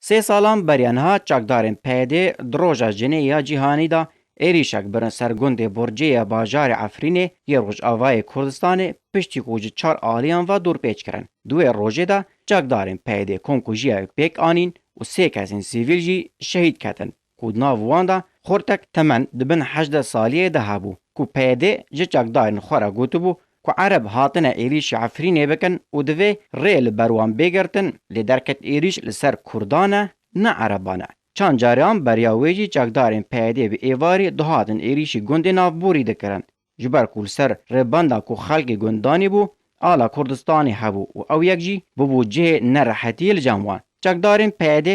Sê salan beriya niha çakdarên PYD di Roja Jinê ya Cîhanî de êrîşek birin ser gundê Burcê ya bajarê Efrînê yê Rojavayê Kurdistanê piştî ku ji çar aliyan ve dorpêç kirin. Di wê rojê de çakdarên PYD komkujiya wê pêk anîn û sê kesên sivîl jî şehîd ketin. ku di nav wan de xortek temen di bin hejdeh saliyê de hebû ku PYD'ê ji çekdarên xwe re gotibû ku ereb hatine êrîşî Efrînê bikin û divê rê li ber wan bê girtin lê derket êrîş li ser kurdan e ne ereban e. Çand carian beriya wê jî çekdarên PYD'ê bi êvarî dihatin êrîşî gundên navborî dikirin. Ji ber ku li ser rêbenda ku xelkê gund danî bû, ala Kurdistanê hebû û ew yek jî bûbû cihê nerehetiyê li cem wan. Çekdarên PYD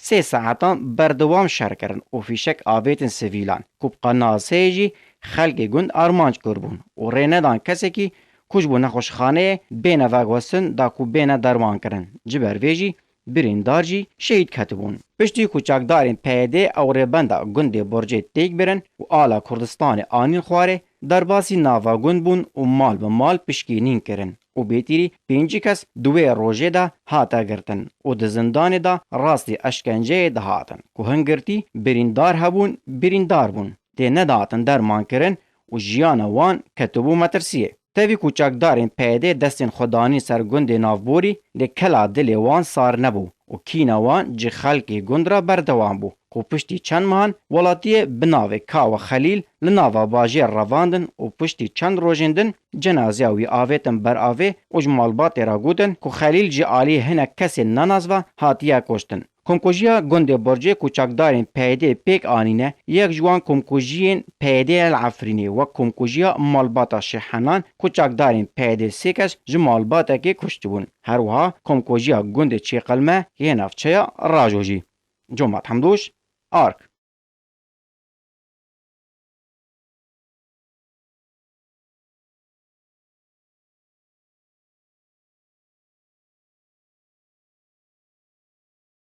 sê saetan berdewam şer kirin û fîşek avêtin sivîlan ku bi qenaseyê jî xelkê gund armanc kir bûn û rê nedan kesekî ku ji bo nexweşxaneyê bêne veguhestin da ku bêne dermankirin. Ji ber vê jî Birîndar jî şehîd ketibûn. Piştî ku çakdarên PYD'ê ew rêbenda gundê Borcê têk birin û ala Kurdistanê anîn xwarê, derbasî nava gund bûn û mal bi mal pişkînîn kirin û bêtîrî pêncî kes di wê rojê de hate girtin û di zindanê de rastî eşkenceyê dihatin ku hin girtî birîndar hebûn birîndar bûn tê nedatin dermankirin û jiyana wan ketibû metirsiyê. Tevî ku çekdarên PYD'ê destên xwe danîn ser gundê navborî lê kela dilê wan sar nebû û kîna wan ji xelkê gund re berdewam bû ku piştî çend mehan welatiyê bi navê Kawa Xelîl li nava bajêr revandin û piştî çend rojên din cenazeya wî avêtin ber avê û ji malbatê re gotin ku Xelîl ji aliyê hinek kesên nenazva hatiye koştin. Komkujiya gundê Borcê ku çakdarên PYD'ê pêk anîne, yek ji wan komkujiyên PYD'ê ye li Efrînê wek komkujiya malbata Şêh Henan ku çakdarên PYD'ê sê kes ji malbatekê kuştibûn. Her wiha komkujiya gundê Çêqelme yê navçeya Rajojî. Comat Hemdûş, ark.